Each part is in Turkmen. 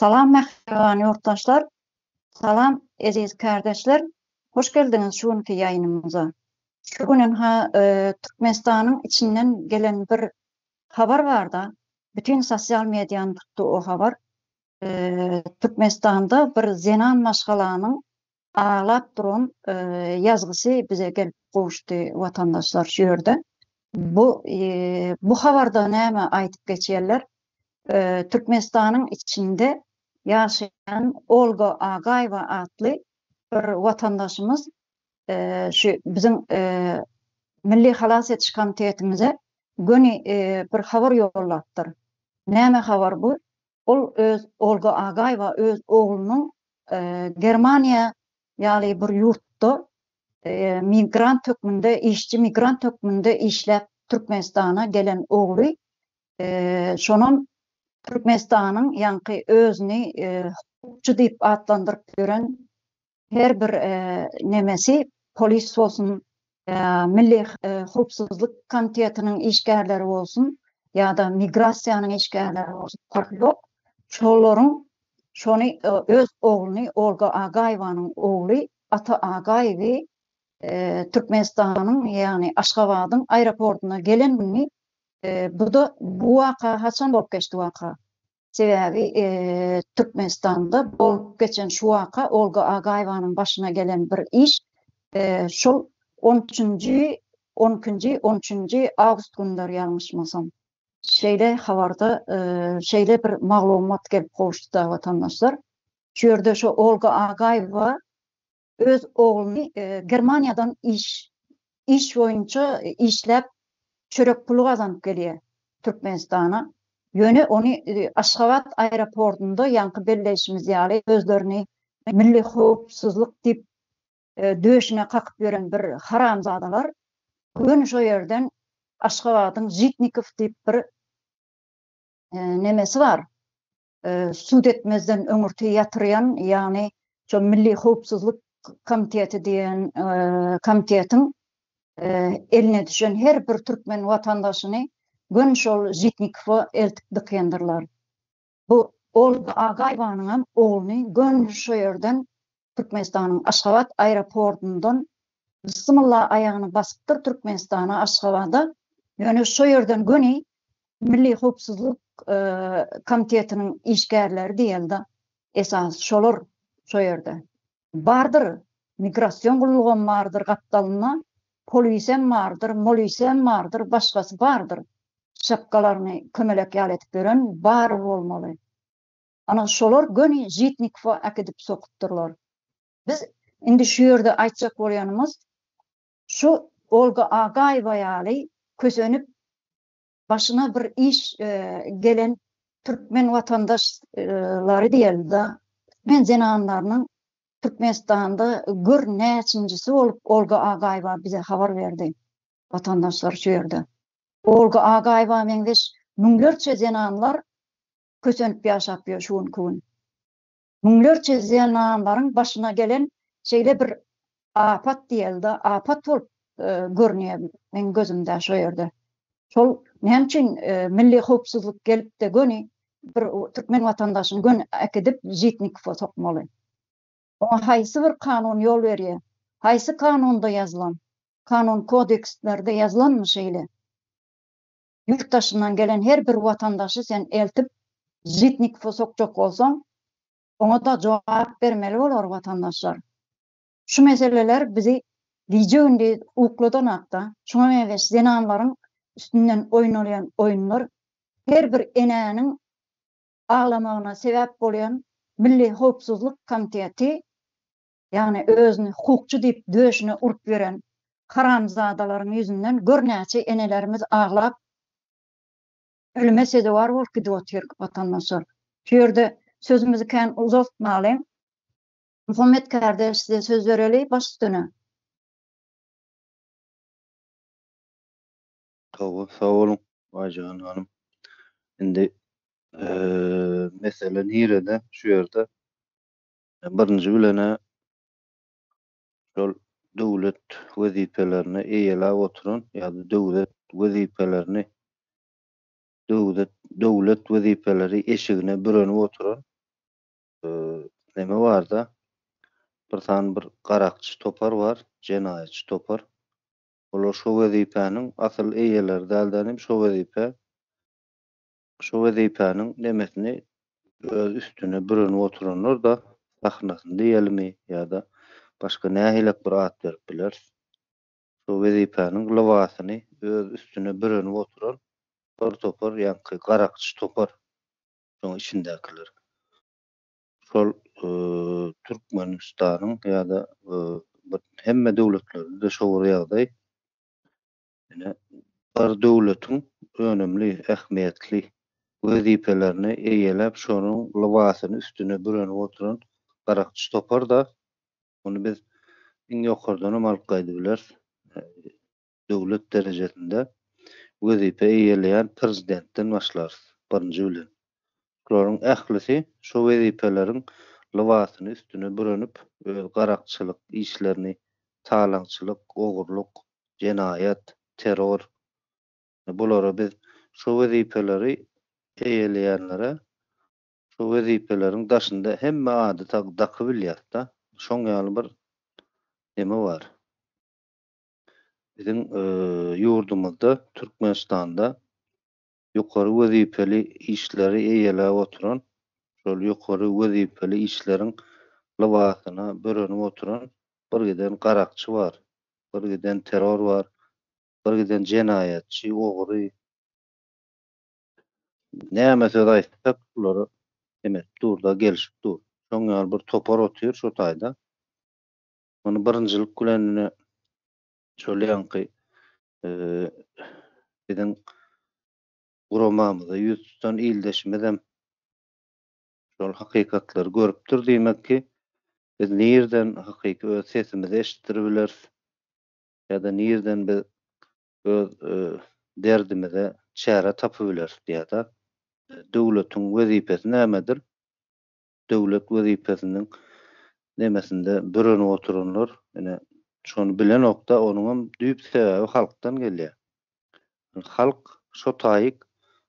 Salam mähriban ýurtdaşlar! Salam eziz kärdeşler! Hoş geldiňiz şu günki ýaýynymyza. Şu günün-ha Türkmenistanyň içinden gelen bir habar bar-da, bütin sosial mediany tutdy o habar. Türkmenistanda bir zenan maşgalanyň aglap duran ýazgysy bize gelip gowuşdy watandaşlar şu ýerde. Bu bu habarda näme aýdyp geçýärler? Türkmenistanyň içinde ýaşaýan Olga Agaýewa atly bir watandaşymyz şu biziň Milli halas ediş komitetimize göni bir habar ýollapdyr. Näme habar bu? Ol öz Olga Agaýewa öz oglunyň Germaniýa ýaly bir ýurtda migrant hökmünde işçi migrant hökmünde işläp Türkmenistana gelen ogly şonam Türkmenistanyň ýaňky özüni hukukçy diýip atlandyryp ýören her bir nemesi polis bolsun, milli howpsuzlyk komitetiniň işgärleri bolsun ýa-da migrasiýanyň işgärleri bolsun parhy ýok. Şolaryň şony öz ogluny Olga Agaýewanyň ogly Ata Agaýewi Türkmenistanyň ýagny Aşgabadyň aeroportuna gelen gününi bu-da bu waka haçan bolup geçdi waka? Sebäbi Türkmenistanda bolup geçen şu waka Olga Agaýewanyň başyna gelen bir iş şol on üçünji on ikinji on üçünji awgust günleri ýalňyşmasam şeýle habarda şeýle bir maglumat gelip gowuşdy da watandaşlar şu ýerde şu Olga Agaýewa öz ogluny Germaniýadan iş iş boýunça işläp çörek puly gazanyp gelýär Türkmenistana. Ýöne ony Aşgabat aeroportunda ýaňky belleýşimiz ýaly özlerini milli howpsuzlyk diýip döşüne kakyp ýören bir haramzadalar göni şo ýerden Aşgabadyň Žitnikow diýip bir nemesi bar sud etmezden öňürti ýatyrýan, ýagny şo Milli howpsuzlyk komiteti diýen komitetiň eline düşen her bir türkmen watandaşyny göni şol Žitnikowa eltip dykýandyrlar. Bu Olga Agaýewanyňam ogluny göni şo ýerden Türkmenistanyň Aşgabat aeroportundan Bysymylla aýagyny basypdyr Türkmenistana Aşgabada ýöne şo ýerden göni Milli howpsuzlyk komitetiniň işgärleri diýelde esasy şolar şo ýerde bardyr migrasion gullugam bardyr gapdalynda polisem bardyr molisem bardyr başgasy bardyr şapkalaryny kömelek ýaly edip ýören bar bolmaly. Ana, şolar göni Žitnikowa äkidip sokupdyrlar. Biz indi şu ýerde aýtjak bolýanymyz, şu Olga Agaýewa ýaly kösenip, başyna bir iş gelen türkmen watandaşlary diýeli-de, türkmen zenanlarynyň Türkmenistanda gör näçinjisi bolup Olga Agaýewa bize habar berdi, watandaşlar şu ýerde. Olga Agaýewa meňzeş müňlerçe zenanlar kösenip ýaşap ýör şu günki gün. Müňlerçe zenanlaryň başyna gelen şeýle bir apat diýeli-de, apat bolup görünýär meň gözümde şo ýerde. Şol näme üçin milli howpsuzlyk gelip-de göni bir türkmen watandaşyny göni äkidip Žitnikowa sokmaly? Oňa haýsy bir kanun ýol berýär? Haýsy kanunda ýazylan? Kanun kodekstlerde ýazylanmy şeýle? Ýurt daşyndan gelen her bir watandaşy sen eltip Žitnikowa sokjak bolsaň, oňa-da jogap bermeli bolar watandaşlar. Şu meseleler bizi gije-gündiz ukladanok-da. Şuňa meňzeş zenanlaryň üstünden oýnalýan oýunlar her bir enäniň aglamagyna sebäp bolýan Milli howpsuzlyk komiteti ýagny özüni hukukçy diýip döşüne urup ýören haramzadalaryň ýüzünden gör näçe enelerimiz aglap ölüme sezewar bolup gidip otyr watandaşlar. Şu ýerde sözümizi kän uzaltmaly. Muhammet kardeş size söz bereli baş üstüne. Hawa sag boluň Aýjahyn hanym. Indi mesele nirede şu ýerde Birinji bilen-ä şol döwlet wezipelerini eýeläp oturan ýa-da döwlet wezipelerini döwlet döwlet wezipeleri eşigine bürenip oturan neme bar-da, bir sany bir garakçy topar bar, jenaýatçy topar. Olar şo wezipäniň asyl eýeleri däl-de, ine, şo wezipä Şu wezipäniň nemesini öz üstüne bürenip oturanlar-da sahnasyn diýelimi ýa-da başga nähilek bir at berip bileris. Şu wezipäniň lybasyny öz üstüne bürenip oturan bir topar ýaňky garakçy topar, şoň içindäkiler. Şol Türkmenistanyň ýa-da hemme döwletlerde-de şo bir ýagdaý. Ine, bular döwletiň önümli, ähmiýetli wezipelerini eýeläp, şonuň lybasyny üstüne bürenip oturan garakçy topar-da, muny biz iň ýokardanam alyp gaýdyp bileris, döwlet derejesinde wezipe eýeleýän Prezidentden başlarys, birinji bilen. Şolaryň ählisi şu wezipeleriň lybasyny üstüne bürenip, öz garakçylyk işlerini, talaňçylyk, ogurlyk, jenaýat, terror, bulara biz şu wezipeleri eýeleýänlere şu wezipeleriň daşynda hemme ady daky bilýäs-de, şoň ýaly bir neme bar. Biziň ýurdumyzda, Türkmenistanda ýokary wezipeli işleri eýeläp oturan, şol ýokary wezipeli işleriň lybasyna bürenip oturan bir giden garakçy bar, bir giden terror bar, bir giden jenaýatçy, ogry, näme söz aýtsak bulara hem edip dur-da, gelşip dur. Şoň ýaly bir topar otyr şo taýda. Muny birinjilik bilen ine şol ýaňky biziň guramamyza ýüz tutan ildeşimizem şol hakykatlary görüpdir diýmek ki, biz nireden hakyky öz sesimizi eşitdirip bileris ýa-da nireden biz öz derdimize çäre tapyp bileris diýýär-de. Döwletiň wezipesi nämedir? döwlet wezipesiniň nemesinde bürenip oturanlar ine şony bilenokda onuňam düýp sebäbi halkdan gelýär. Halk şo taýyk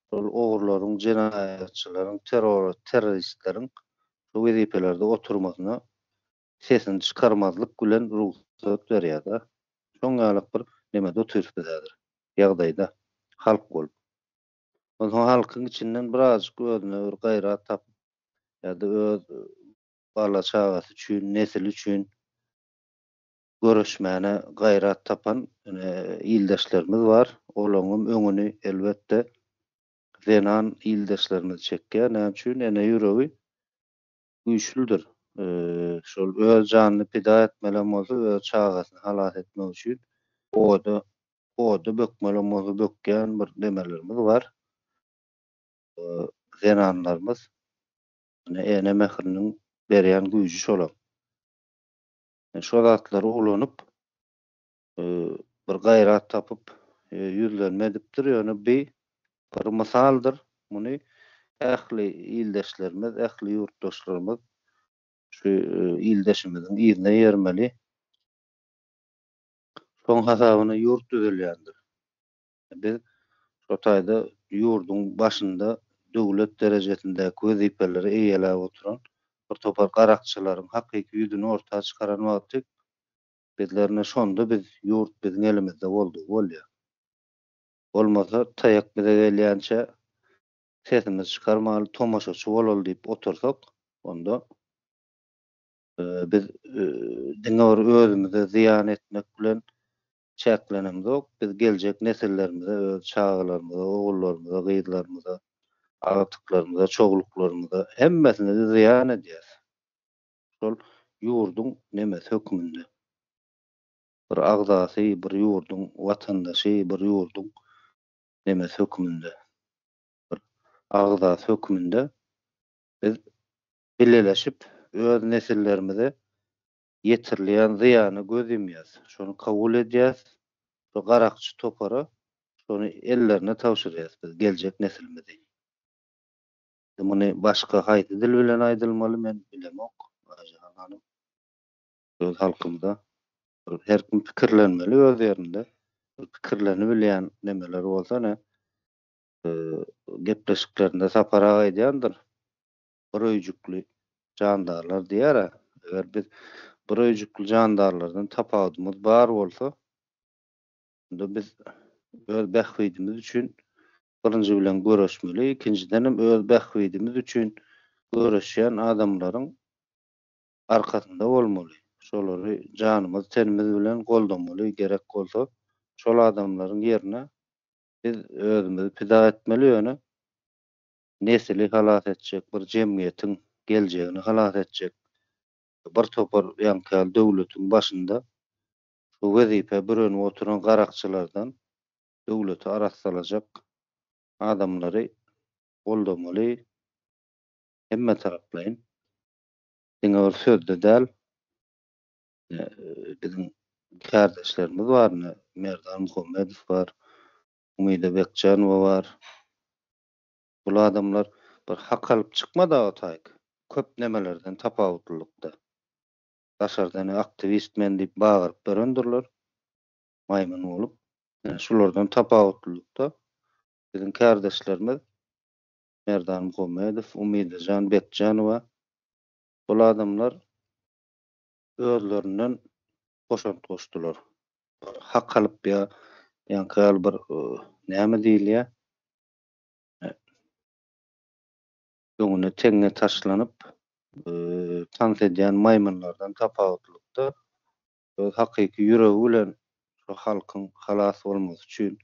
şol ogurlaryň jenaýatçylaryň terror terroristleriň şo wezipelerde oturmasyna sesini çykarmazlyk bilen rugsat berýärda şoň ýalyk bir nemede otyrys biz häzir ýagdaýda halk bolup. Onsoň halkyň içinden birazajyk özüne bir gaýrat tapyp, ýa-da öz bala-çagasy üçin, nesili üçin göreşmäne gaýrat tapan ildeşlerimiz bar. Olaňňam öňüni, elbetde, zenan ildeşlerimiz çekýär. Näme üçin? Ene ýüregi güýçlüdir. Şol öz janyny pida etmelem bolsa, öz çagasyny halas etmek üçin oda oda bökmelem bolsa bökýän bir demelerimiz bar. Zenanlarymyz ene ene mähriniň berýän güýji şolam. Şo zatlary ulanyp bir gaýrat tapyp ýüzlenme edipdir, ýöne bi bir mysaldyr, muny ähli ildeşlerimiz, ähli ýurtdaşlarymyz şu ildeşimiziň yzyna ýermeli. Şoň hasabyna ýurt düzelýändir. Biz şo taýda ýurduň başynda döwlet derejesindäki wezipeleri eýeläp oturan bir topar garakçylaryň hakyky ýüzüni orta çykaran wagty Bizlerine şonda biz ýurt biziň elimizde boldugy bolýa. Bolmasa taýak bize gelýänçä sesimizi çykarmaly tomaşaçy bolaly diýip otursak onda biz diňe bir özümize zyýan etmek bilen çäklenemzok biz geljek nesillerimize öz çagalarymyza ogullarymyza gyzlarymyza agtyklarymyza çogluklarymyza hemmesine zyýan edýäs. şol ýurduň nemesi hökmünde. Bir agzasy, bir ýurduň watandaşy, bir ýurduň nemesi hökmünde, bir agzasy hökmünde biz bileleşip öz nesillerimize ýetirilýän zyýana göz ýumýas, şony kabul edýäs, şu garakçy topara şony ellerine tabşyrýas biz geljek nesilimizi. Muny başga haýsy dil bilen aýdylmaly men bilemok Aýjahan hanym. Öz halkymda her kim pikirlenmeli öz ýerinde. Pikirlenibilýän nemeler bolsa ine gepleşiklerinde Sapar aga aýdýandyr. Bir öýjükli jandarlar diýýär-ä. Eger biz bir öýjükli jandarlardan tapawudymyz bar bolsa onda biz öz bähbidimiz üçin birinji bilen göreşmeli, ikinjidenem öz bähbidimiz üçin göreşýän adamlaryň arkasynda bolmaly, şolary janymyz-tenimiz bilen goldamaly, gerek bolsa, şol adamlaryň ýerine biz özümizi pida etmeli, ýöne nesli halas etjek, bir jemgyýetiň geljegini halas etjek bir topar ýaňky döwletiň başynda şu wezipä bürenip oturan garakçylardan döwleti arassalajak adamlary goldamaly hemmetaraplaýyn diňe bir sözde däl biziň kärdeşlerimiz bar ine Merdan Muhammedow bar Umida Bekjanowa bar bul adamlar bir hak alyp çykmada otaýk köp nemelerden tapawutlylykda daşardan aktywist men diýip bagyryp dörendirler maýmyn bolup, şulardan tapawutlylykda biziň kärdeşlerimiz Merdan Muhammedow, Umydajan Bekjanowa bul adamlar özlerinden goşant goşdular. Hak alyp ýa ýaňky ýaly bir näme diýilýär, öňüne teňňe taşlanyp tans edýän maýmynlardan tapawutlylykda öz hakyky ýüregi bilen şu halkyň halas bolmasy üçin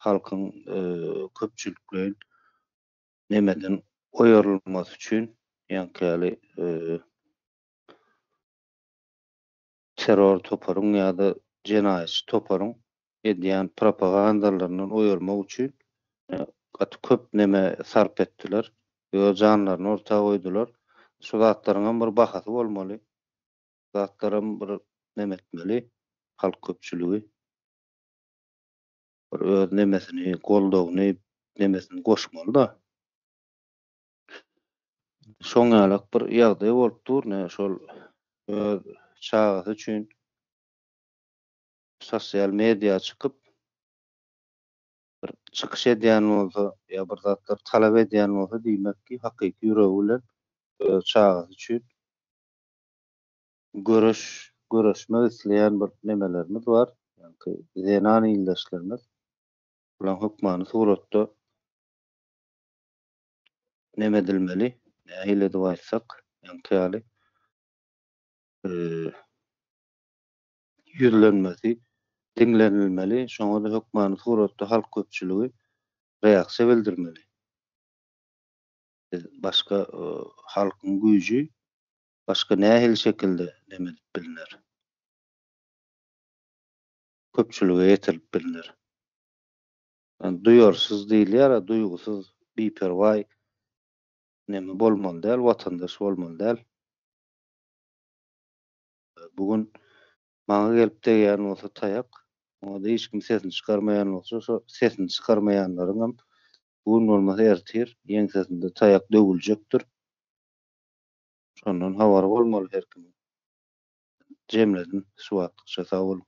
halkyň köpçülikleýin nemeden oýarylmasy üçin ýaňky ýaly terror toparyň ýa-da jenaýatçy toparyň edýän propagandalaryndan oýarmak üçin gaty köp neme sarp etdiler, öz janlaryny orta goýdular. Şu zatlaryňam bir bahasy bolmaly. zatlaram bir nem etmeli halk köpçüligi bir öz nemesini goldawyny nemesini goşmaly da şoň ýalak bir ýagdaý bolup dur ne şol öz çagasy üçin sosial media çykyp bir çykyş edýän bolsa ýa bir zatlar talap edýän bolsa diýmek ki hakyky ýüregi bilen öz çagasy üçin Göreş göreşmek isleýän bir nemelerimiz bar. Ýaňky zenan ildeşlerimiz. Bulaň hökmany suratda neme edilmeli? Nähili edip aýtsak, ýaňky ýaly eee ýüzlenmesi diňlenilmeli. Şoňa-da hökmany suratda halk köpçüligi reaksiýa bildirmeli. Biz başga halkyň güýji başga nähili şekilde nem edip bilner? Köpçülige ýetirip bilner. Ýani duýarsyz diýilýär a duýgusyz biperwaý neme bolmaly däl watandaş bolmaly däl. Bu gün maňa gelip degýän bolsa taýak oňa-da hiç kim sesini çykarmaýan bolsa şo sesini çykarmaýanlaryňam Bu gün bolmasa ertir ýeňsesinde taýak döwüljekdir. Şondan habary bolmaly her kimiň. Jemledim şu wagtlykça sag boluň.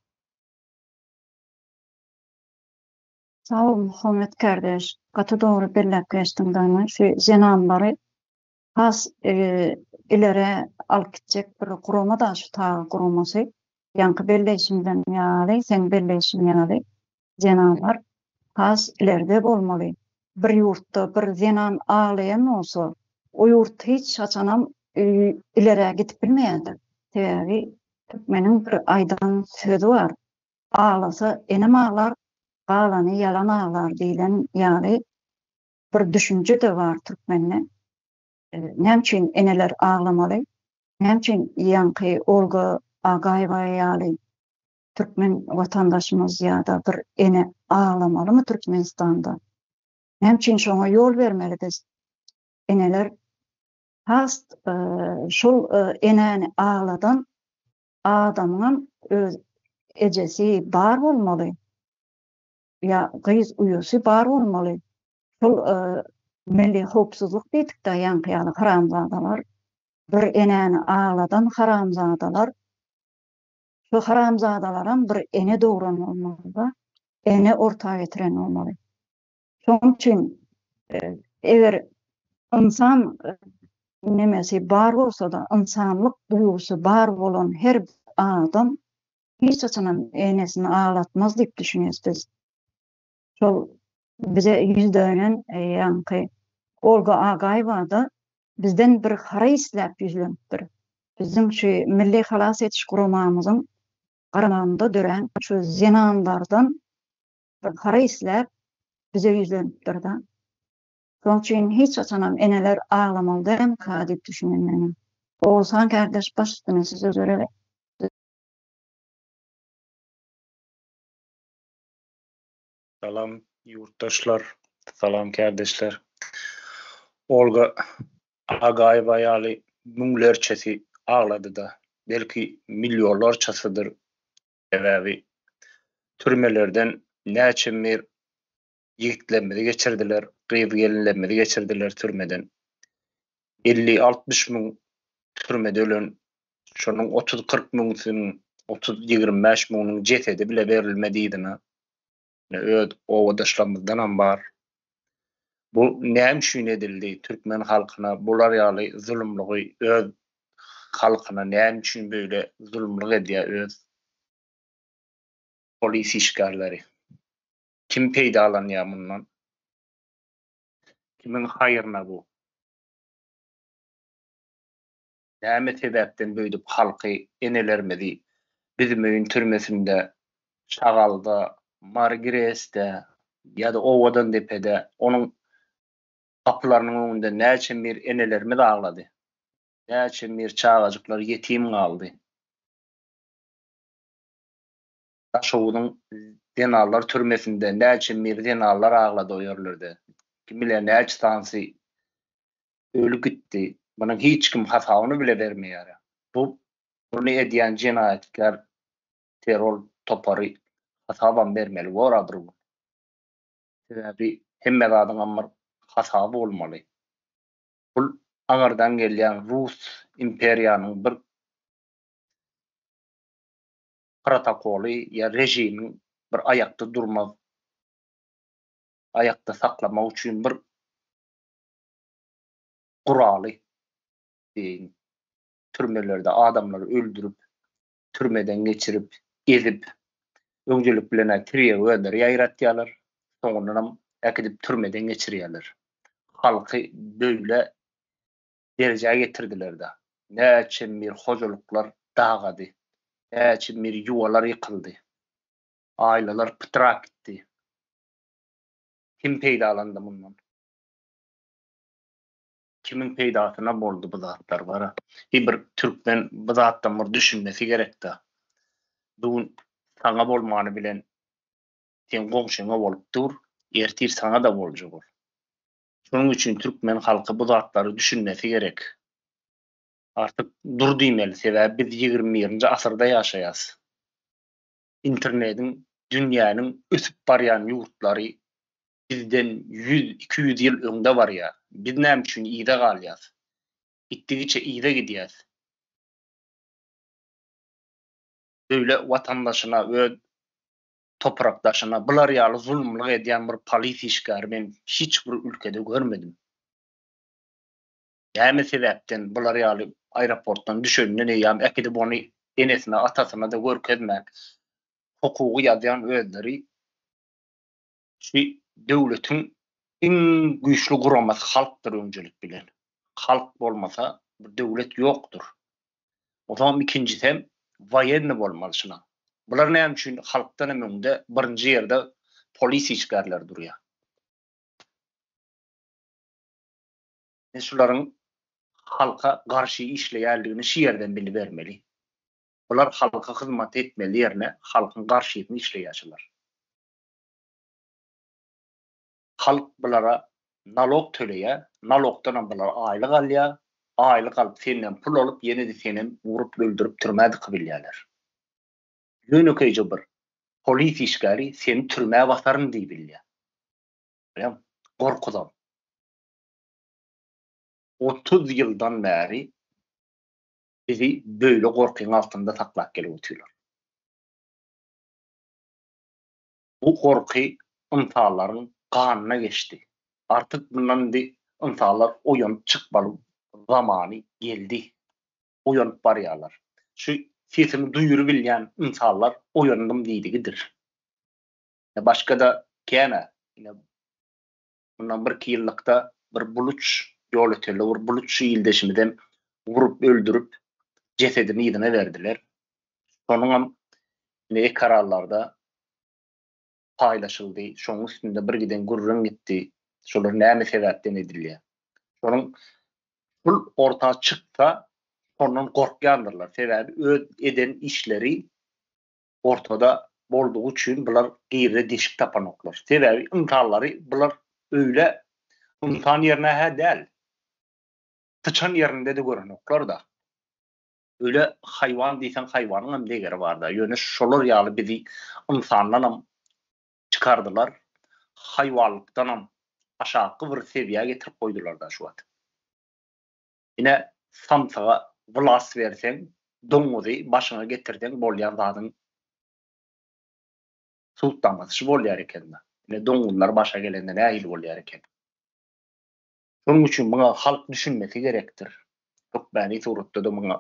Sag bol Muhammet kardeş, gaty dogry belläp geçdiň dayman şu zenanlary has ileri alyp gitjek bir gurama da şu TAG guramasy. Ýaňky belleýşimiziň ýaly, seň belleýşiň ýaly, zenanlar has ileride bolmaly. Bir ýurtda bir zenan aglaýan bolsa, o ýurt hiç haçanam ilerä gidip bilmeýändir. Sebäbi türkmeniň bir aýdan sözi bar, Aglasa enem aglar, galany ýalan aglar diýlen ýaly, bir düşünje-de bar türkmende. Näme üçin eneler aglamaly? Näme üçin ýaňky Olga Agaýewa ýaly türkmen watandaşymyz ýa-da bir ene aglamalymy Türkmenistanda? Näme üçin şoňa ýol bermeli biz? Eneler has şol enäni agladan adamyňam öz ejesi bar bolmaly. ýa gyz uýasy bar bolmaly. Şol milli howpsuzlyk diýdikdä ýaňky ýaly haramzadalar. Bir enäni agladan haramzadalar. Şu haramzadalaram bir ene dogran bolmalyda. Ene orta getiren bolmaly. Şoň üçin eger ynsan nemesi bar bolsa-da, ynsanlyk duýgusy bar bolan her adam hiç haçanam enesini aglatmaz diýip düşünýäs biz. Şol bize ýüz dönen ýaňky Olga Agaýewa-da bizden bir hara isläp ýüzlenipdir. Biziň şu milli halas ediş guramamyzyň garamagynda dörän şu zenanlardan bir hara isläp bize ýüzlenipdir-de. Şonuň üçin hiç haçanam eneler aglamaly dälmi-ka diýip düşünýän men. Oguzhan kärdeş baş üstüne size Salam ýurtdaşlar, salam kärdeşler. Olga Agaýewa ýaly müňlerçesi aglady-da, belki millionlarçasydyr, sebäbi türmelerden näçe mir ýigitlerimizi geçirdiler, gyz-gelinlerimizi geçirdiler türmeden. 50-60 müň türmede ölen, şonuň 30-40 müňüsiniň, 30-25 müňüniň jesedi bile berilmedi yzyna. Öz obadaşlarymyzdan hem bar. Bu näme üçin edildi? Türkmen halkyna bular ýaly zulumlygy öz halkyna näme üçin böyle zulumlyk edýär öz polis işgärleri? Kim peýdalanýar mundan? Kimiň haýryna bu? Näme sebäpden beýdip halky, enelerimizi Büzmeýin türmesinde, Şagalda, Mary Gresde ýa-da Owadandepede onuň gapylarynyň öňünde näçe mir enelerimiz aglady? Näçe mir çagajyklar ýetim galdy? Daşoguzyň zenanlar türmesinde näçe mir zenanlar aglady o ýerlerde. Kim biler näçe sanysy öli gitdi. Munuň hiç kim hasabyny bile bermeýär. Bu buny edýän jenaýatkär terror topary hasabam bermeli bora bir gün. Sebäbi hemme zadyňam bir hasaby bolmaly. Bul aňyrdan gelýän rus imperiýanyň bir protokoly ýa režimiň bir aýakda durmak, aýakda saklamak üçin bir guraly deýin. Türmelerde adamlary öldürip, türmeden geçirip, ezip, öňdelik bilen-ä tirýewenderi ýaýratýarlar, soňundanam äkidip türmeden geçirýärler. Halky böýle derejä getirdiler-de, näçe mir hojalyklar dagady, näçe mir ýuwalar ýykyldy, aýlalar pytrap gitdi. Kim peýdalandy mundan? Kimiň peýdasyna boldy bu zatlar? Gara, heý bir türkmen bu zatdan bir düşünmesi gerek-dä. Bu gün saňa bolmany bilen seň goňşyňa bolup dur, ertir saňa-da boljak ol. Şonuň üçin türkmen halky bu zatlary düşünmesi gerek. Artyk dur diýmeli, sebäbi biz ýigrimi birinji asyrda ýaşaýas. Internediň dünýäniň ösüp barýan ýurtlary bizden ýüz, iki ýüz ýyl öňde barýar. Biz näme üçin yza galýas? Gitdigiçe yza gidýäs. Beýle watandaşyna öz toprakdaşyna bular ýaly zulumlyk edýän bir polis işgäri men hiç bir ülkede görmedim. Näme sebäpden bular ýaly aeroportdan düşenden eýýam äkidip ony enesine atasyna-da görkezmän hukugy ýazýan özleri şu döwletiň iň güýçli guramasy halkdyr öňcelik bilen. Halk bolmasa bir döwlet ýokdur. Otaňam ikinjisem waýenni bolmaly şuna. Bular näme üçin halkdanam öňde birinji ýerde polis işgärleri durýar. Men şularyň halka garşy işleýärligini şu ýerden bilibermeli. Bular halka hyzmat etmeli ýerine halkyň garşysyny işleýär şular. Halk bulara nalog töleýär, nalogdanam bular aýlyk alýar, aýlyk alyp senden pul alyp ýene-de senem urup öldürip türmä dikibilýärler. Ýönekeýje bir polis işgäri seni türmä basaryn diýibilýär. Görýäňmi? Gorkudan. Otuz ýyldan bäri bizi böyle gorkyň altynda saklap gelip otyrlar. Bu gorky ynsanlaryň ganyna geçdi. Artyk mundan indi ynsanlar oýanyp çykmalyň zamany geldi. Oýanyp barýarlar. Şu sesimi duýurybilýän ynsanlar oýandym diýdigidir. Başga-da kän-ä. Ine, Mundan birki ýyllykda bir buluç ýolötelde bir buluç ildeşimizem urup öldürip jesedini yzyna berdiler. Şonuňam ine ekarallarda paýlaşyldy. Şonuň üstünde bir giden gürrüň gitdi. Şolar näme sebäpden edilýär? Şonuň pul orta çyksa, ondan gorkýandyrlar. Sebäbi öz eden işleri ortada boldugy üçin bular girre deşik tapanoklar. Sebäbi ynsanlary bular öýle ynsan ýerine hä däl. Syçan ýerinde-de görenoklar-da. Öýle haýwan diýseň haýwanyň hem degeri bar-da. Ýöne şolar ýaly bizi ynsandan hem çykardylar, haýwanlykdan hem aşakgy bir sebiýä getirip goýdular-da şu wagt. Ine, samsyga wlast berseň, doňňuzy başyňa getirseň bolýan zadyň sud damgady şu bolýar eken-dä. Ine, doňňuzlar başa gelende nähili bolýar eken? Şonuň üçin muňa halk düşünmesi gerekdir. Hökmäni suratda-da muňa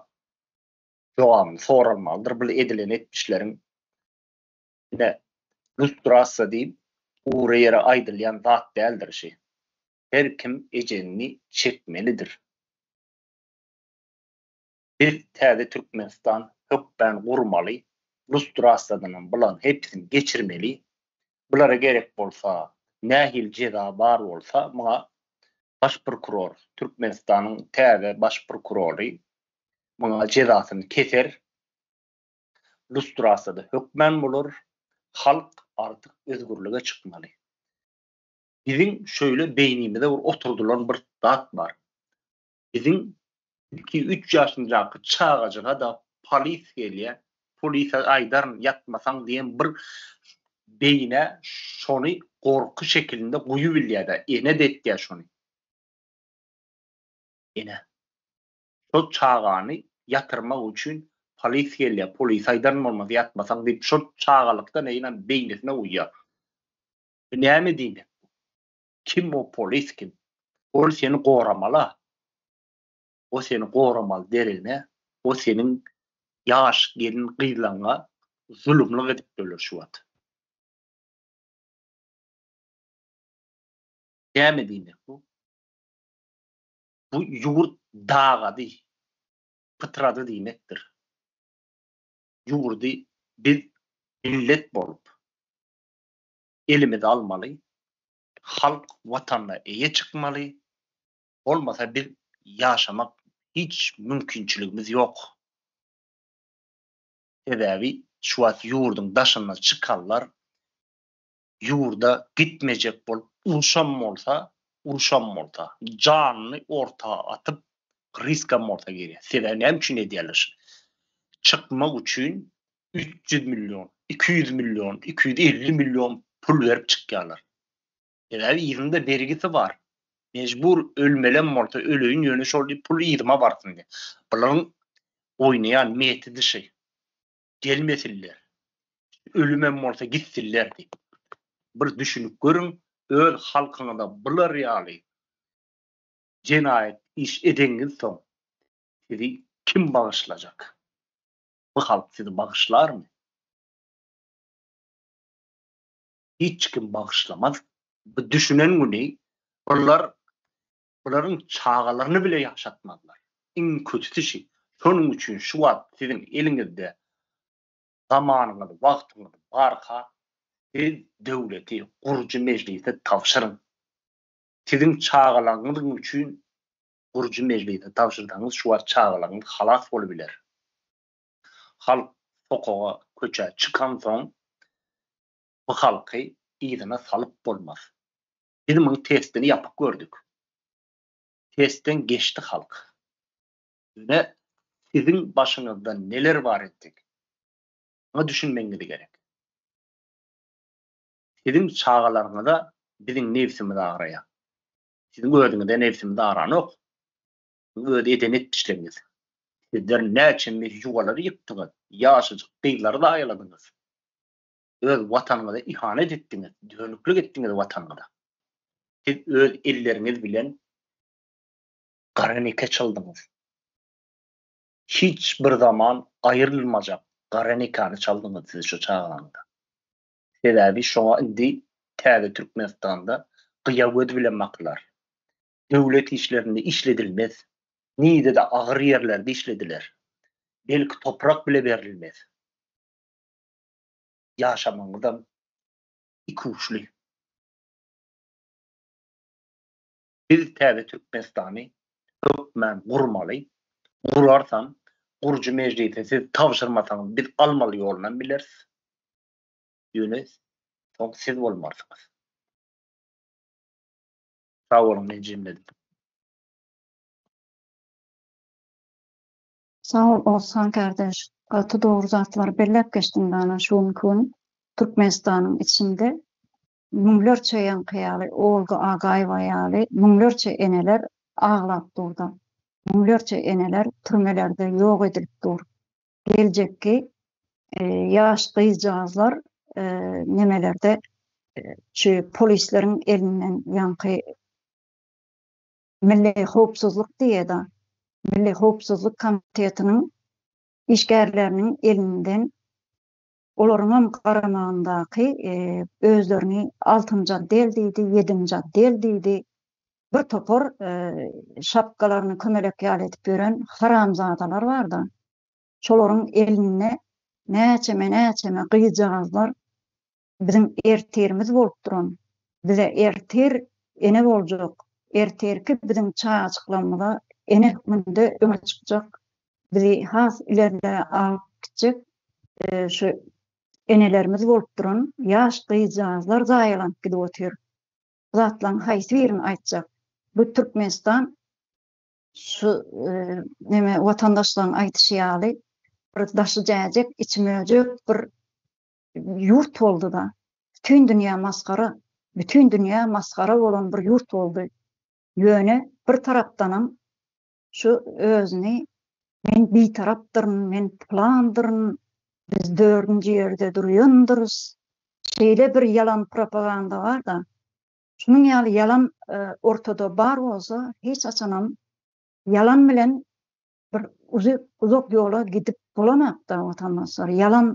jogabyny soralmalydyr. Bul edilen etmişleriň ine, lustrasiýa diýip, ugry ýere aýdylýan zat däldir şi. her kim ejenini çekmelidir. Biz täze Türkmenistan hökmän gurmaly, lustrasyýadanam bularyň hepsini geçirmeli. Bulara gerek bolsa, nähili jeza bar bolsa, muňa baş prokuror, Türkmenistanyň täze baş prokurory muňa jezasyny keser. Lustrasyýada hökmän bolar. Halk artyk özgürlige çykmaly. Biziň şöýle beýnimize bir oturdylan bir zat bar. Biziň iki, üç ýaşynjaky çagajyga-da polis gelýär, polise aýdaryn ýatmasaň diýen bir beýnä şony gorky şekilinde guýup bilýär-de, ene-de etýär şony. Ene. Şo çagany ýatyrmak üçin polis gelýär, polise aýdaryn bolmasa ýatmasaň diýip, şo çagalykdan eýýäm beýnisine guýýar. Bu näme diýmek bu? Kim o polis kim? Ol seni goramaly-a. O seni goramaly deregine, o seniň ýaş gelin gyzlaňňa zulumlyk edip durlar şu wagt. Näme diýmek bu? Bu ýurt dagady, pytrady diýmekdir. Ýurdy biz millet bolup, elimize almaly, halk Watanyna eýe çykmaly, bolmasa biz ýaşamak hiç mümkinçiligimiz ýok. Sebäbi şu wagt ýurduň daşyna çykanlar ýurda gitmejek bolup uruşam bolsa, uruşam bolsa, janyny orta atyp riskam bolsa girýär. Sebäbi näme üçin edýärler? Çykmak üçin üç ýüz million, iki ýüz million, iki ýüz elli million pul berip çykýarlar. Sebäbi yzyňda bergisi bar. Mejbur ölmelem bolsa öleýin ýöne şol diýip pul yzyma barsyn diýip. Bularyň oýnaýan metodi şeý. Gelmesinler. Ölümem bolsa gitsinler diýip. Bir düşünip görüň, öz halkyňyza bular ýaly jenaýat iş edeňizsoň sizi kim bagyşlajak? Bu halk sizi bagyşlarmy? Hiç kim bagyşlamaz. Bu düşünen güni bular bularyň çagalaryny bile ýaşatmazlar. Iň kötüsi şonuň üçin şu wagt siziň eliňizde zamanyňyz, wagtyňyz barka, siz döwleti gurujy mejlise tabşyryň. Siziň çagalaryňyz üçin Gurujy mejlise tabşyrsaňyz şu wagt çagalaryňyz halas bolubiler. Halk sokaga, köçä çykansoň bu halky yzyna salyp bolmaz. Biz muny testini ýapyp gördük. Testden geçdi halk. Ýöne siziň başyňyzda neler bar entek. Muňa düşünmegiňiz gerek. Siziň çagalaryňyza biziň nebsimiz agraýar. Siziň özüňize nebsimi daranok. Bu öz eden etmişligiňiz. Sizler näçemmiz ýuwalary ýykdyňyz, ýaşajyk gyzlary zaýaladyňyz. Öz watanyňyza ihanet etdiňiz, dönüklik etdiňiz watanyňyza. Siz öz elleriňiz bilen gara nike çaldyňyz. Hiç bir zaman aýrylmajak gara nikany çaldyňyz siz şu çaganyňyza. Sebäbi şoňa indi täze Türkmenistanda gyýa göz bilen bakylar. Döwlet işlerinde işledilmez. Nirede agyr ýerlerde işlediler. Belki toprak bile berilmez. Ýaşamagyňyzam ikuçly. Biz täze Türkmenistany hökmän gurmaly. Gurarsam, gurujy mejlise siz tabşyrmasaňyz biz almaly ýolunam bileris. Ýöne soň siz bolmarsyňyz. Sag boluň meni jemledip. Sag ol Ozhan kardeş, gaty dogry zatlary belläp geçdiň dana şu günki gün Türkmenistanyň içinde müňlerçe ýaňky ýaly Olga Agaýewa ýaly müňlerçe eneler aglap durda, müňlerçe eneler türmelerde ýok edilip dur, geljekki ýaş gyzjagazlar nemelerde şu polisleriň elinden ýaňky milli howpsuzlyk diýeda milli howpsuzlyk komitetiniň işgärleriniň elinden Olaryňam garamagyndaky özlerini altynjy otdel diýdi, ýedinji otdel diýdi, bir topar şapkalaryny kömelek ýaly edip ýören haramzadalar bar-da, şolaryň elinde näçeme-näçeme gyzjagazlar biziň ertirimiz bolup duran, bize ertir ene boljak, ertirki biziň çagajyklarymyza ene hökmünde öňe çykjak bizi has ileride alyp gitjek şu enelerimiz bolup duran ýaş gyzjagazlar zaýalanyp gidip otyr. Bu zatlaryň haýsy birini aýtjak? Bu Türkmenistan şu e, neme watandaşlaryň aýdyşy ýaly bir daşy jäjek, içi möjek bir ýurt boldy-da. Bütün dünýä masgara, bütün dünýä masgara bolan bir ýurt boldy. Ýöne bir tarapdanam şu özüni men bitarapdyryn, men pylandyryn, biz dördünji ýerde durýandyrys, şeýle bir ýalan propaganda bar-da, şunuň ýaly ýalan ortada bar bolsa, hiç haçanam ýalan bilen bir uzak ýola gidip bolanakda, watandaşlar. Ýalan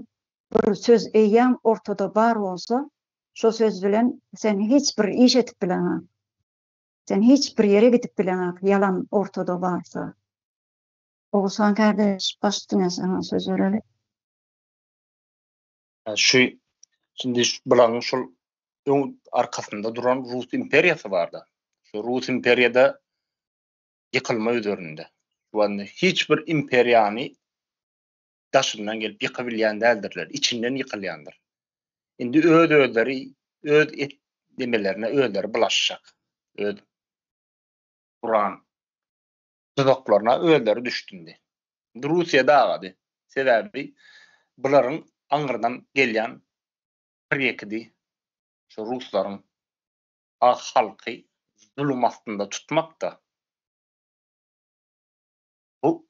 bir söz eýýäm ortada bar bolsa, şo söz bilen sen hiç bir iş edip bileňok. Sen hiç bir ýere gidip bileňok ýalan ortada barsa. Oguzhan kardeş baş üstüne sana söz bereli. Şu şimdi bularyň şol öň arkasynda duran Rus imperiýasy barda. Şu Rus imperiýada ýykylma üzerinde. Şu hiç bir imperiýany daşyndan gelip ýykybilýän däldirler, içinden ýykylýandyr. Indi öz-özleri öz et demelerine özleri bulaşjak. Öz Kur'an tuzaklaryna özleri düşdündi. Indi Russiýa dagady. Sebäbi bularyň aňyrdan gelýän bir ýekidi şu ruslaryň ak halky zulum astynda tutmakda. Bu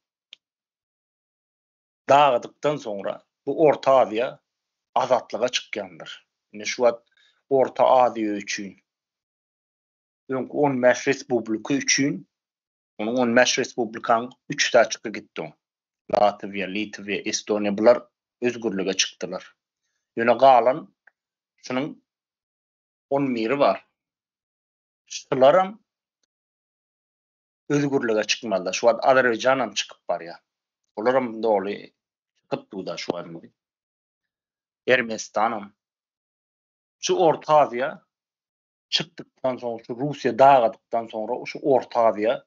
dagydykdan soňra bu Orta Aziýa azatlyga çykýandyr. Ine şu wagt Orta Aziýa üçin öňki on bäş respublika üçin onuň on bäş respublikanyň üç saçyky gitdi oň. Latwiýa, Litwiýa, Estoniýa bular özgürlige çykdylar. Ýöne galan şunuň on biri bar. Şularam özgürlige çykmalyda. Şu wagt Azerbaýjan hem çykyp barýar. Olar hem doly çykyp duda şu wagt. Ermenistan hem. Şu Orta Aziýa çykdykdan soň, şu Russiýa dagadykdan soňra şu Orta Aziýa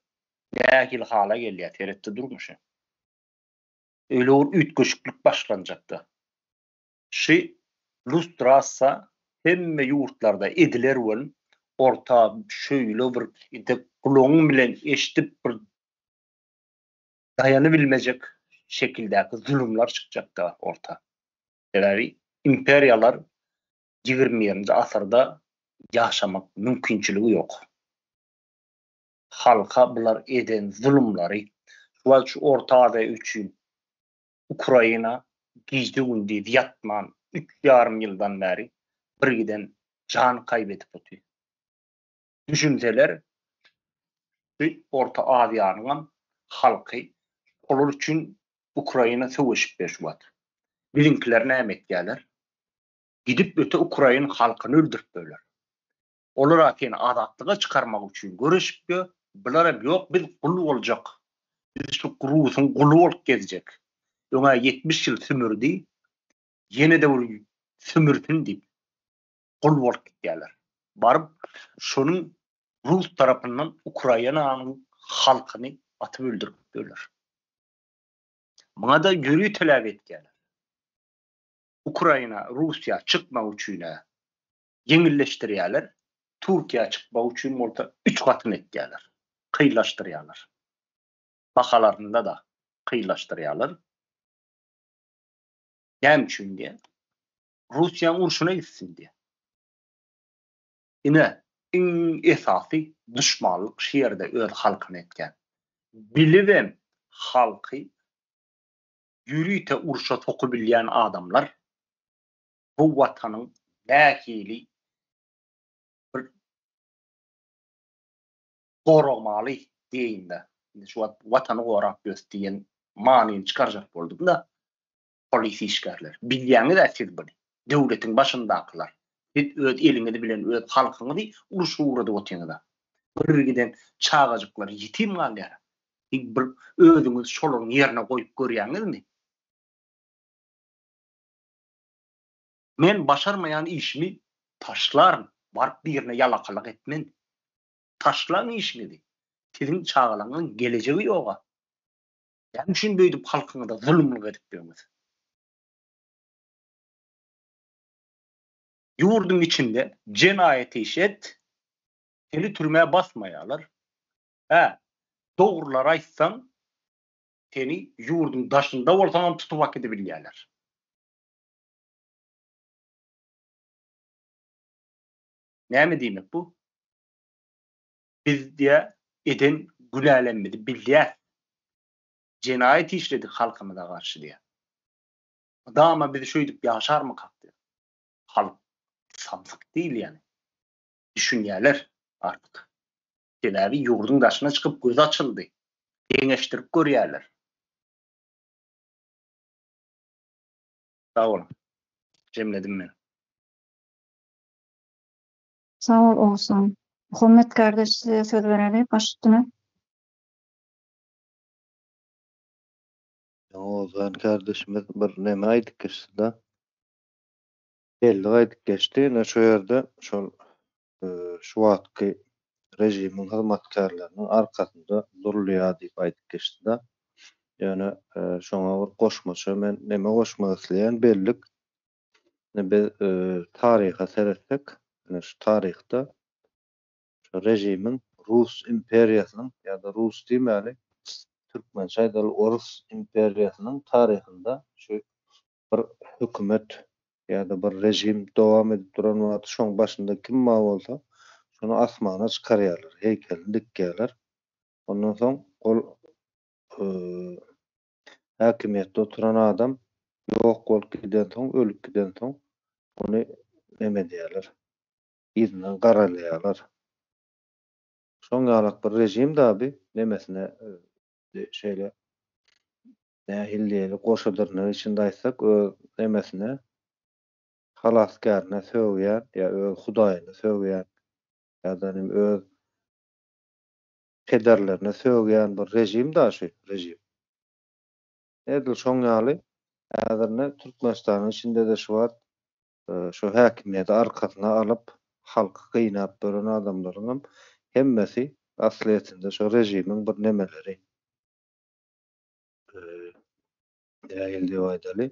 nähili hala gelýär, seretde durmuşy. Öýle bir üýtgeşiklik başlanjakda. Şy lustrasiýa hemme ýurtlarda ediler bol orta şöýle bir edip gulagyň bilen eşdip bir daýanybilmejek şekildäki zulumlar çykjakda orta. Sebäbi imperiýalar ýigrimi birinji asyrda ýaşamak mümkinçiligi ýok. Halka bular eden zulumlary şu wagt şu orta aziýa üçin Ukraina gije-gündiz ýatman üç ýarym ýyldan bäri birgiden jan kaýbedip otyr. Düşünseler şu Orta Aziýanyňam halky olar üçin Ukraina söweşip ber şu wagt. Biziňkiler näme etýäler? Gidip öte Ukraina halkyny öldürip berler. Olar-a seni azatlyga çykarmak üçin göreşipdi, bularam ýok biz gul boljak, biz şu rusuň guly bolup gezjek, öň-ä ýetmiş ýyl sümürdi, ýene-de bir sümürsin diýip, gul bolup gidýärler. Baryp şonuň rus tarapyndan Ukrainanyň halkyny atyp öldüripdirler. Muňa-da ýörite teläp etýärler. Ukraina, Russiýa çykmak üçin-ä ýeňilleşdirýärler, Türkiýä çykmak üçin bolsa üç gatyn etýärler, kynlaşdyrýarlar. Bahalarynda-da kynlaşdyrýarlar. Näme üçin diýýär? Russiýanyň urşuna gitsin diýýär. Ine, iň esasy duşmanlyk şu ýerde öz halkyna etýän. Bilibem halky ýörite urşa sokubilýän adamlar bu Watanyň nähili bir goragmaly diýeýin-de, indi şu wagt Watany gorap ýörüs diýen manyny çykarjak boldumy-da, polis işgärler? Bilýäňiz-ä siz muny, döwletiň başyndakylar. Siz öz eliňiz bilen öz halkyňyzy uruşa ugradyp otyňyz-a. Gürrüňi giden çagajyklar ýetim galýar. Siz bir özüňizi şolaryň ýerine goýup görýäňizmi? Men başarmaýan işimi taşlaryn, baryp birine ýalakalyk etmen. Taşlaň işiňizi, siziň çagalaňyň gelejegi ýoga. Näme üçin beýdip halkyňyza zulumlyk edip ýörüňiz? Ýurduň içinde jenaýat iş et, seni türmä basmaýarlar. Hä, dogrular aýtsaň, seni ýurduň daşynda bolsaňam tutup akydybilýärler. Näme diýmek bu? Biz diýä eden günälerimizi bilýär. Jenaýat işledik halkymyza garşy diýä. Mydama biz şöýdüp ýaşarmykak diýä. Halk samsyk diýilýäni düşünýärler artyk. Sebäbi ýurduň daşyna çykyp gözi açyldy. Deňeşdirip görýärler. Sag boluň. Jemledim men. Sag bol Oguzhan. Muhammet kardeş size söz bereli baş üstüne. Oguzhan kardeşimiz bir neme aýdyp geçdi da. Belli aýdyp geçdi ine şu ýerde şol şu wagtky režimiň hyzmatkärleriniň arkasynda durulýar diýip aýdyp geçdi-de. Ýöne şoňa bir goşmaça men näme goşmak isleýän, bellik, ine biz taryha seretsek, ine şu taryhda şu režimiň rus imperiýasynyň ýa-da rus diýmäli, türkmençe aýdaly orus imperiýasynyň taryhynda şu Bir hökümet ýa-da bir režim dowam edip duran wagty şoň başynda kim bar bolsa, şony asmana çykarýarlar, heýkelini dikýärler. Ondan soň ol häkimiýetde oturan adam ýok bolup gidensoň, ölüp gidensoň ony neme edýärler, yzyndan garalaýarlar. Şoň ýalak bir režim-de bi nemesine şeýle Nähiliýeli goşa dyrnak içinde aýtsak, öz nemesine, halasgärine sögýän ýa öz hudaýyna sögýän ýa-da nim öz pederlerine sögýän bir režim da şu režim. Edil şoň ýaly häzirne Türkmenistanyň içinde-de şu wagt şu häkimiýeti arkasyna alyp, halky gynap ýören adamlaryňam hemmesi aslyýetinde şu režimiň bir nemeleri. Dägel diýip aýdaly.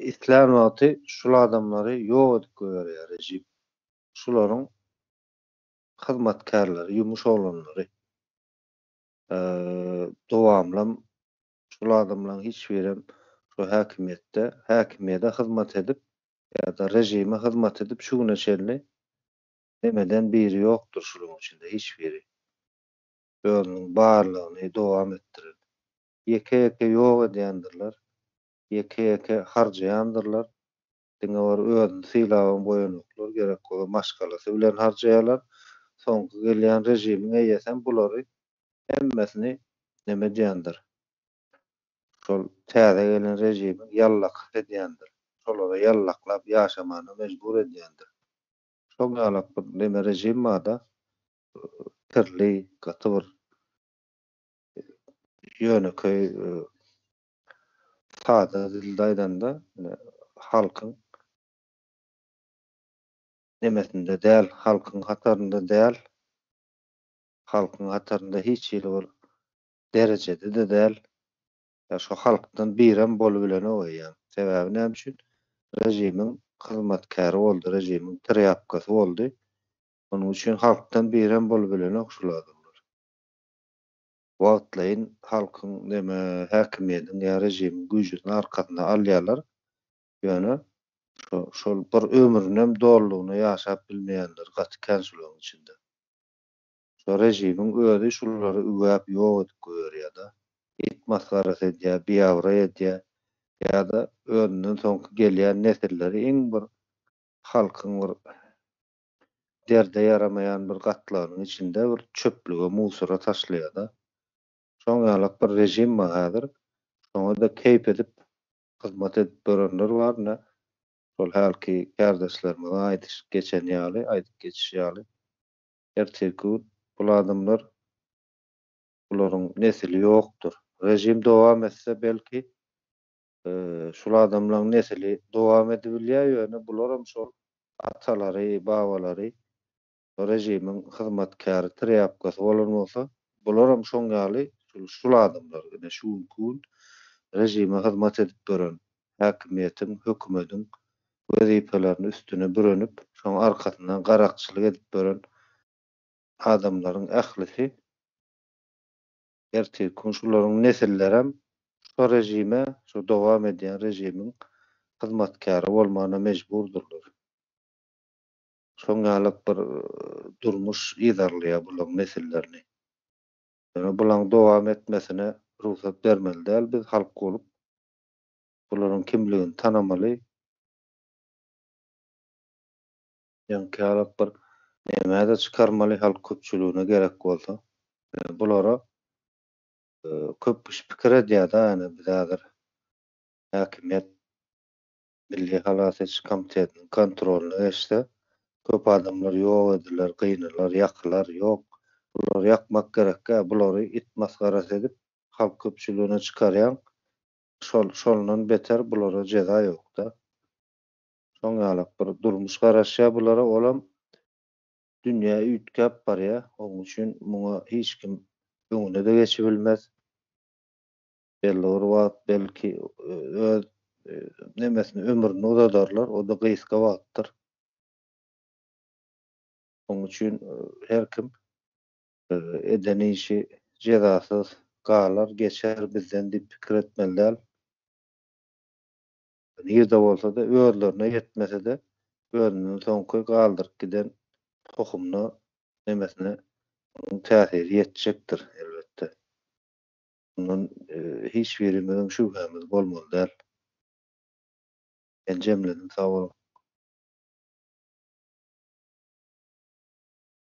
Islän wagty şul adamlary ýok edip goýberýär režim. Şularyň hyzmatkärleri, ýumuş oglanlary. Dowamlam şul adamlaryň hiç birem şu häkimiýetde, häkimiýede hyzmat edip ýa-da režime hyzmat edip şu güne çenli demeden biri ýokdur şularyň içinde hiç biri. ýolunyň barlagyny dowam etdiredi. Ýeke-ýeke ýok edýändirler, ýeke-ýeke harjaýandyrlar, diňe bir özüni sylaban goýanoklar, gerek bolsa maşgalasy bilen harjaýarlar, soňky gelýän režimiň eýesem bulary hemmesini neme edýändir, şol täze gelen režimiň ýallakysy edýändir, şolary ýallaklap ýaşamana mejbur edýändir. Şoň ýalak bir neme režim barda, kirli, gaty bir ýönekeý, sada dilde aýdanda, ine, halkyň nemesinde däl, halkyň hatarynda däl, halkyň hatarynda hiç hili bir derejede-de däl. Ýa şo halkdan birem bolubilenok eýýäm. Sebäbi näme üçin? Režimiň hyzmatkäri boldy, režimiň trýapkasy boldy. Onuň üçin halkdan birem bolubilenok şul adamlar. Wagtlaýyn halkyň näme häkimiýediň ýa režimiň güýjüni arkasyna alýarlar, ýöne şo şol bir ömrünem dolulygyna ýaşap bilmeýänleri gaty kän şularyň içinde. Şo režimiň özi şulary üwäp ýok edip goýberýä-da. It masgarasy edýä, biabraý edýä ýa-da özünden soňky gelýän nesilleri iň bir halkyň bir derde ýaramaýan bir gatlagynyň içinde bir çöplüge musora taşlaýada. Şoň ýalak bir režim bar häzir. Şoňada keýp edip hyzmat edip ýörenler bar ine. Şol hälki kärdeşlerimiziň aýdyşyp geçeni ýaly, aýdyp geçişi ýaly. Ertirki gün bul adamlar bularyň nesili ýokdur. Režim dowam etse belki Şul adamlaň nesili dowam edibilýä ýöne bularam şol atalary babalary rejimiň hyzmatkäri trýapkasy bolan bolsa bularam şoň ýaly şul adamlar ine şu günki gün rejime hyzmat edip ýören häkimiýetiň hökümediň wezipelerini üstüne bürenip şoň arkasyndan garakçylyk edip ýören adamlaryň ählisi Ertir gün şularyň nesillerem şo režime, şo dowam edýän režimiň hyzmatkäri bolmana mejburdyrlar. Şoň ýalyk bir durmuş yzarlaýar bulaň nesillerini. Ýöne bulaň dowam etmesine rugsat bermeli däl biz halk bolup. Bularyň kimligini tanamaly. Ýaňkyýalak bir nämä-de çykarmaly halk köpçüligine gerek bolsa. Ýöne bulara köp kişi pikir edýär-de, ýöne biz häzir häkimiýet Milli halas ediş komitetiniň kontrolyna geçse, köp adamlar ýok ediler, gynalar, ýakylar. Ýok, bulary ýakmak gerek-ä, bulary it masgarasy edip, halk köpçüligine çykarýaň, şol şondan beter bulara jeza ýok-da. Şoň ýalak bir durmuş garaşýar bulara, olam dünýä üýtgäp barýar. Oň üçin muňa hiç kim öňüne-de geçibilmez. Belli bir wagt belki öz nemesini, ömrüni uzadarlar, o-da gysga wagtdyr. Oň üçin her kim eden işi jezasyz galar, geçer bizden diýip pikir etmeli däl. Nirde bolsa-da, özlerine ýetmese-de, özünden soňky galdyryp giden tohumyna, nemesine onuň täsiri ýetjekdir, elbetde. Mundan hiç birimiziň şübhämiz bolmaly däl. Men jemledim, sag boluň.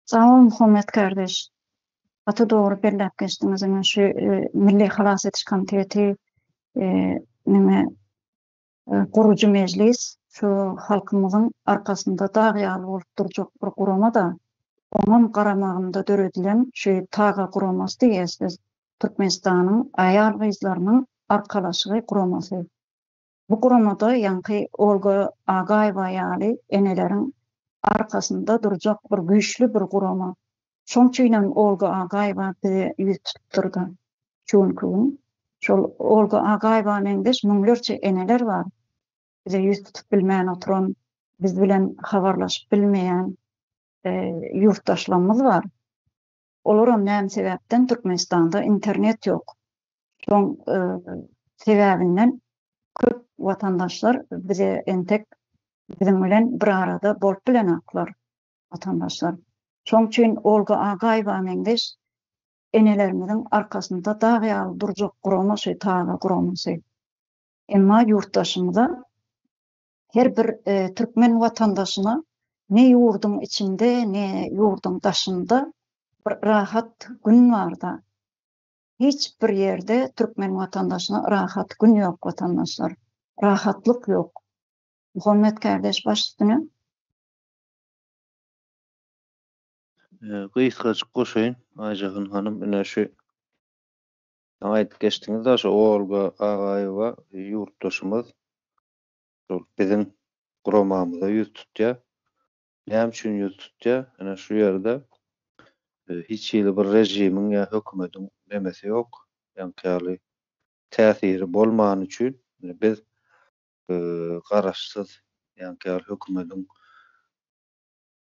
Sag bol Muhammet kardeş. Gaty dogry belläp geçdiňiz ine şu Milli halas ediş komiteti neme gurujy mejlis şu halkymyzyň arkasynda dag ýaly bolup durjak bir gurama-da oňam garamagynda döredilen şu taga guramasy diýýäs biz Türkmenistanyň aýal-gyzlarynyň arkalaşygy guramasy. Bu guramada ýaňky Olga Agaýewa ýaly eneleriň arkasynda durjak bir güýçli bir gurama. Şoň üçinem Olga Agaýewa bize ýüz tutupdyr-da. Şu günki gün şol Olga Agaýewa meňzeş müňlerçe eneler bar. Bize ýüz tutup bilmän oturan, biz bilen habarlaşyp bilmeýän ýurtdaşlarymyz bar. Olaram näme sebäpden Türkmenistanda internet ýok. Şoň sebäbinden köp watandaşlar bize entek biziň bilen bir arada bolup bilenoklar watandaşlar. Şoň üçin Olga Agaýewa meňzeş enelerimiziň arkasynda dag ýaly durjak gurama şu TAGA guramasy. Emma ýurtdaşymyza Her bir türkmen watandaşyna ne ýurduň içinde, ne ýurduň daşynda bir rahat gün barda, hiç bir ýerde türkmen watandaşyna rahat gün ýok watandaşlar, rahatlyk ýok. Muhammet kardeş baş üstüne. Gysgajyk goşaýyn Aýjahyn hanym ine şu aýdyp geçdiňiz daşy Olga Agaýewa ýurtdaşymyz şol biziň guramamyza ýüz tutýar. Näme üçin ýüz tutýar? Ine şu ýerde hiç hili bir režimiň ýa hökümetiň nemesi ýok. Ýaňky ýaly täsiri bolmany üçin biz garaşsyz ýaňky ýaly hökümetiň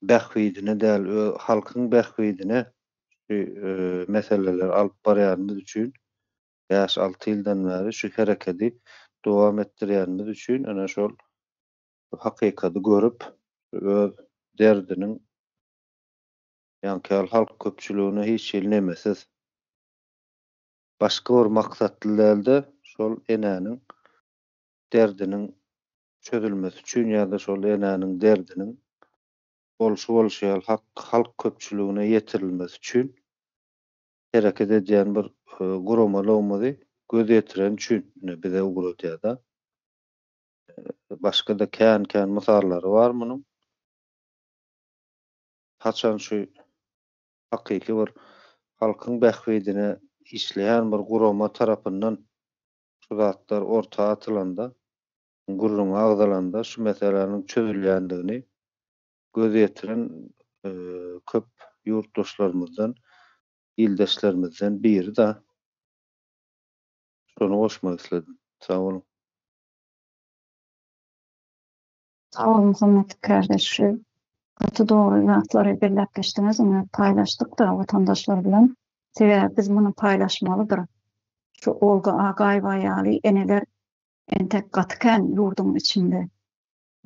bähbidine däl, öz halkyň bähbidine şu meseleleri alyp barýanymyz üçin bäş-alty ýyldan bäri şu herekedi dowam etdirýänimiz üçin ene şol hakykady görüp, öz derdiniň ýaňky ýaly halk köpçüligine hiç hili nemesiz, başga bir maksatly däl-de, şol enäniň derdiniň çözülmesi üçin ýa-da şol enäniň derdiniň bolşy bolşy ýaly halk köpçüligine ýetirilmesi üçin hereket edýän bir guramalygymyzy göz ýetiren üçin ine bize ugradýar-da. Başga-da kän-kän mysallary bar munuň. Haçan şu hakyky bir halkyň bähbidine işleýän bir gurama tarapyndan şu zatlar orta atylanda, gürrüňi agzalanda şu meseläniň çözülýändigini göz ýetiren köp ýurtdaşlarymyzdan, ildeşlerimizden biri-de. Şony goşmak isledim. Sag boluň. Sag boluň hormatly kardeş şu gaty dogry zatlary belläp geçdiňiz ony paýlaşdyk-da watandaşlar bilen sebäbi biz muny paýlaşmalydyr şu Olga Agaýewa ýaly eneler entek gaty kän ýurduň içinde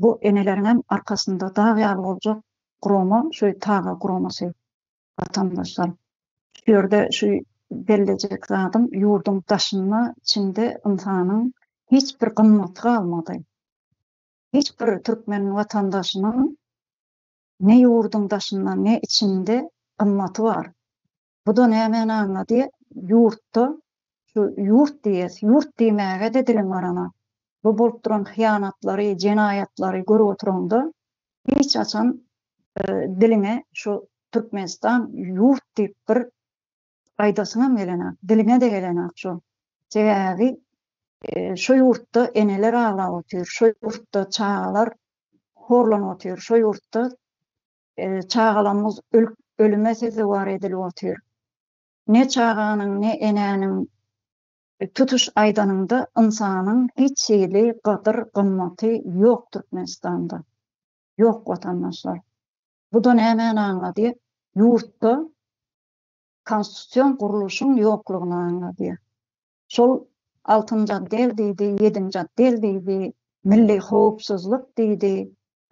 Bu eneleriňem arkasynda dag ýaly boljak gurama şu taga guramasy watandaşlar. Şu ýerde şu bellejek zadym ýurduň daşynda içinde ynsanyň hiç bir gymmaty galmady. Hiç bir türkmen watandaşynyň ne ýurduň daşynda ne içinde gymmaty bar. Bu da nämäni aňladýar? Ýurtda şu ýurt diýýäs, ýurt diýmäge-de diliň barana. Bu bolup duran hyýanatlary, jenaýatlary görüp oturaňda, hiç haçan diliňe şu Türkmenistan ýurt diýip bir aýdasyňam gelenok, diliňe-de gelenok şu. Sebäbi şu ýurtda eneler aglap otyr, şu ýurtda çagalar horlanyp otyr, şu ýurtda Çagalarymyz ölüp, ölüme sezewar edilip otyr. Ne çaganyň, ne enäniň, tutuş aýdanyňda, ynsanyň hiç hili gadyr-gymmaty ýok Türkmenistanda. Ýok, watandaşlar. Bu-da nämäni aňladýar? Ýurtda konstitusion gurluşyň ýoklugyny aňladýar. Şol altynjy otdel diýdi, ýedinji otdel diýdi, milli howpsuzlyk diýdi,